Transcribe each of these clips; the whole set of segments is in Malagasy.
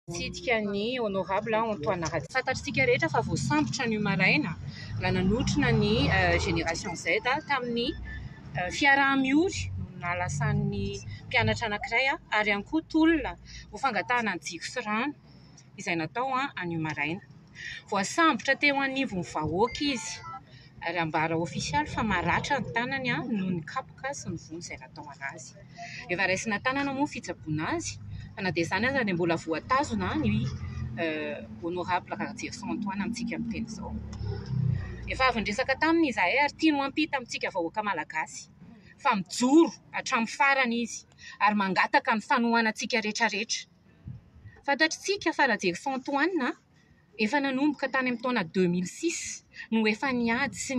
Nitsidika ny Honorable Antoine Ratsiraka. Fantatr'isika rehetra fa voasambotra anio maraina raha nanotrona ny Génération Z tamin'ny fiaraha-miory no nahalasan'ny mpianatra anankiray ary ihany koa tolona ho fangatahana ny jiro sy rano izay natao anio maraina. Voasambotra teo anivon'ny vahoaka izy ary ambara ofisialy fa maratra ny tanany noho ny kapoka sy ny vono izay nataony azy. Efa raisina tanana moa ny fitsaboana azy fa na dia izany aza dia mbola voatazona ny Honorable Rahajerison Antoine amintsika amin'ny teny izao. Efa avy niresaka taminy izahay ary tiany ho ampita amintsika vahoaka malagasy fa mijoro hatramin'ny farany izy ary mangataka ny fanohanantsika rehetra rehetra. Fantatritsika fa Rajerison Antoine Efa nanomboka tany amin'ny taona deux mille six no efa niady sy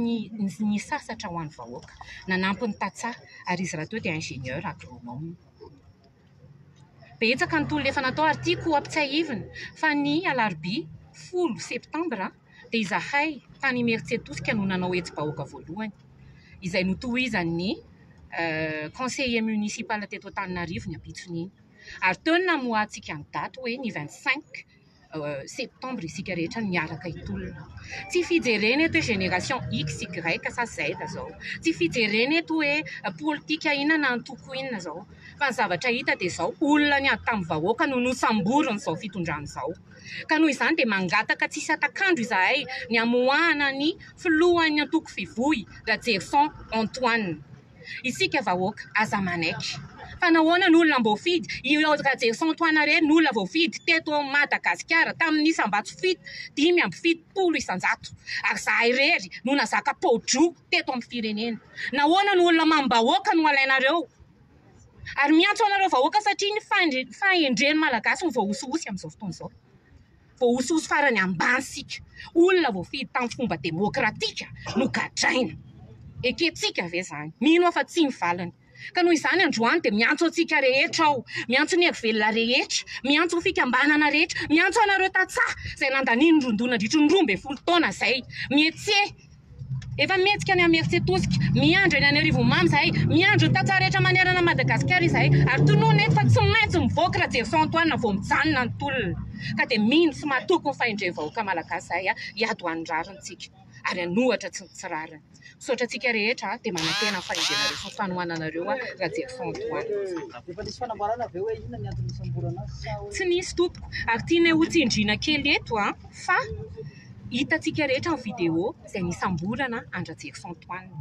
nisasatra ho an'ny vahoaka. Nanampy ny tantsaha ary izy rahateo dia ingénieur agronome. Betsaka ny tolona efa natao ary tiako ho ampitsiahivina fa ny alarobia folo septambra dia izahay tany Imerintsiatosika no nanao hetsi-bahoaka voalohany izay notohizan'ny conseiller municipal teto Antananarivo ny ampitson'iny ary teo ny namoahantsika ny daty hoe ny vingt cinq. septembre isika rehetra miaraka hitolona. Tsy fijerena eto hoe génération X, Y sa Z izao. Tsy fijerena eto hoe politika inona na antoko inona izao. Fa ny zavatra hita dia izao, olona niady tamin'ny vahoaka no nosamborin'izao fitondrana izao. Ka noho izany dia mangataka tsy hisy hatak'andro izahay ny hamoahana ny filohan'ny antoko Fivoy, Rajerison Antoine. Isika vahoaka aza manaiky. Fa nahoana ny olona mboafidy? I Rajerison Antoinarena ny olona voafidy teto Madagasikara tamin'ny isam-bato fito, dimy amby fitopolo isan-jato. Ary zahay irery no nazaka pao-droa teto amin'ny firenena. Nahoana ny olona mamim-bahoaka no alainareo? Ary miantso anareo vahoaka satria ny fahendren'ny Malagasy no voahosihosy amin'izao fotoana izao. Voahosihosy farany ambany isika. Olona voafidy tamin'ny fomba demokratika no gadraina. Ekentsika ve izany? Mino aho fa tsia ny valiny. Ka noho izany androany dia miantso antsika rehetra aho, miantso ny hery velona rehetra, miantso ny fikambanana rehetra, miantso anareo tantsaha izay nandanian'ny roa-doha nandritry ny roa ambin'ny folo taona izay, mihetseha, Efa mihetsika any Imerintsiatosika, miandry any Anarivomamy izahay, miandry ny tantsaha rehetra manerana an'i Madagasikara izahay ary tononina eto fa tsy maintsy mivoaka Rajeirison Antoine vao mijanona ny tolona. Ka dia mino sy matoky ny fahendren'ny vahoaka Malagasy izahay hiady ho an'ny rarintsika ary hanohitra tsy ny tsy rariny. Misaotra antsika rehetra dia manantena ny fahendrenareo sy ny fanohananareo Rajeirison Antoine. Efa nisy fanambarana ve hoe inona ny antony nisamborana azy sa hoe. Tsy nisy tompoko ary tianay ho tsindriana kely eto fa. Hitantsika rehetra ny vidéo izay nisamborana an-dRajerison Antoine.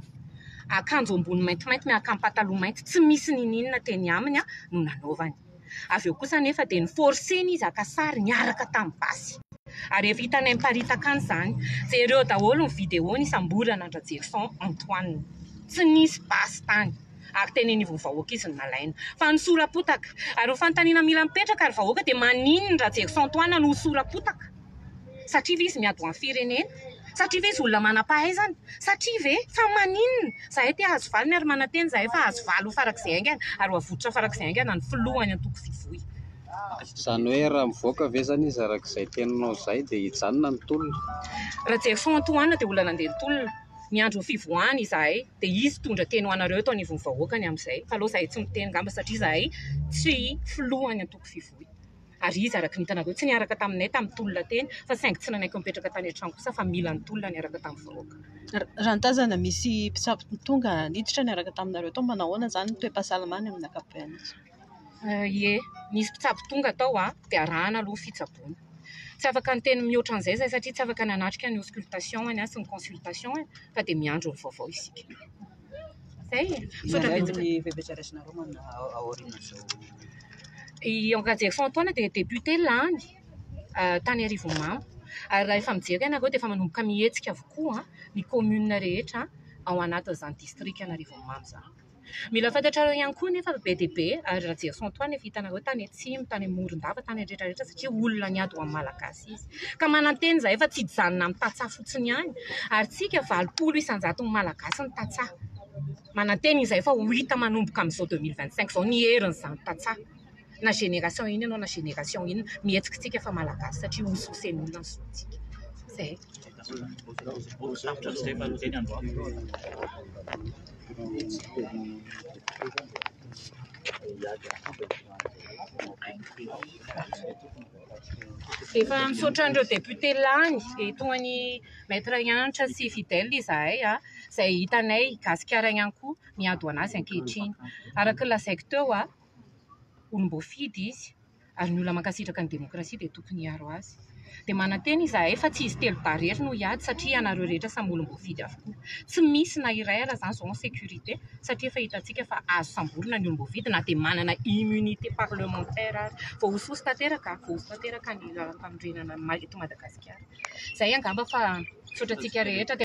Akanjo ambony maintimainty miaraka amin'ny pataloha mainty tsy misy niniana teny aminy no nanaovany. Avy eo kosa anefa dia ni-forcer-ny izy haka sary niaraka tamin'ny basy. Ary efa hitanay miparitaka any izany. Jereo daholo ny vidéo nisamborana an-dRajerison Antoine. Tsy nisy basy tany ary teny anivon'ny vahoaka izy no nalaina. Fa nisora-potaka. Ary ny fanontaniana mila mipetraka ry vahoaka dia maninona Rajerison Antoine no ho sora-potaka? Satria ve izy miady ho an'ny firenena? Satria ve izy olona manam-pahaizana? Satria ve? Fa maninona? Izahay te hahazo valiny ary manantena izahay fa hahazo valiny farak'izay haingana ary ho avotra farak'izay haingana ny filoha any antoko Vivoy. Izany hoe raha mivoaka ve izany izy araka izay teninao izay dia hijanona ny tolona? Rajery Antoine dia olona nandeha ny tolona. Miandry ny fivoahany izahay dia izy hitondra teny ho anareo eto anivon'ny vahoaka ny amin'izay. Fa aleo izahay tsy miteny angamba satria izahay tsy filoha any antoko Vivoy. Ary iza araka ny hitanareo tsy niaraka taminay tamin'ny tolona teny fa saingy tsy nanaiky mipetraka tany an-trano kosa fa mila ny tolona niaraka tamin'ny vahoaka. Raha nitazana misy mpitsabo tonga niditra niaraka taminareo tao, manahoana izany ny toe-pahasalamany amin'ny ankapobeny izy? Ie, nisy mpitsabo tonga tao an, dia arahana aloha ny fitsaboana. Tsy afaka niteny mihoatra an'izay izahay satria tsy afaka nanatrika ny auscultation-any sy ny consultation-any fa dia miandry ny vaovao isika. I Henri Rajaofontaona dia député lany tany Arivonimamo ary raha efa mijery ianareo dia efa manomboka mihetsika avokoa ny commune rehetra ao anatin'izany distrikan'Arivonimamo izany. Mila fantatrareo ihany koa anefa fa be dia be ry Rajaofontoana efa hitanareo tany atsimo, tany Morondava, tany rehetra rehetra satria olona niady ho an'ny Malagasy. sy sisa ka manantena izahay fa tsy hijanona amin'ny tantsaha fotsiny ihany ary tsika valopolo isan-jaton'ny malagasy ny tantsaha manantena izahay fa ho hita manomboka amin'izao deux mille vingt cinq izao ny herin'izany tantsaha na génération inona ianao na génération inona mihetsika isika fa malagasy satria hosohosen'olona ny zontsika izay Efa misaotra an'ireo député lany dia toa an'i Maître Hanitra sy Fidèle izahay izay hitanay gasikara ihany koa miady ho an'azy ankehitriny. Araka ny lazaiko teo, olom-boafidy izy ary ny olona mankasitraka ny démocratie dia tokony hiaro azy. Dia manantena izahay fa tsy izy telo dahy irery no hiady satria ianareo rehetra samy olom-boafidy avokoa. Tsy misy na iray aza izany izao en sécurité. satria efa hitantsika fa azo samborina ny olom-boafidy na dia manana immunité parlementaire ary. Voahosihosy tanteraka, voahosy tanteraka ny lalampanorenana eto Madagasikara. Izay angamba fa misaotra antsika rehetra.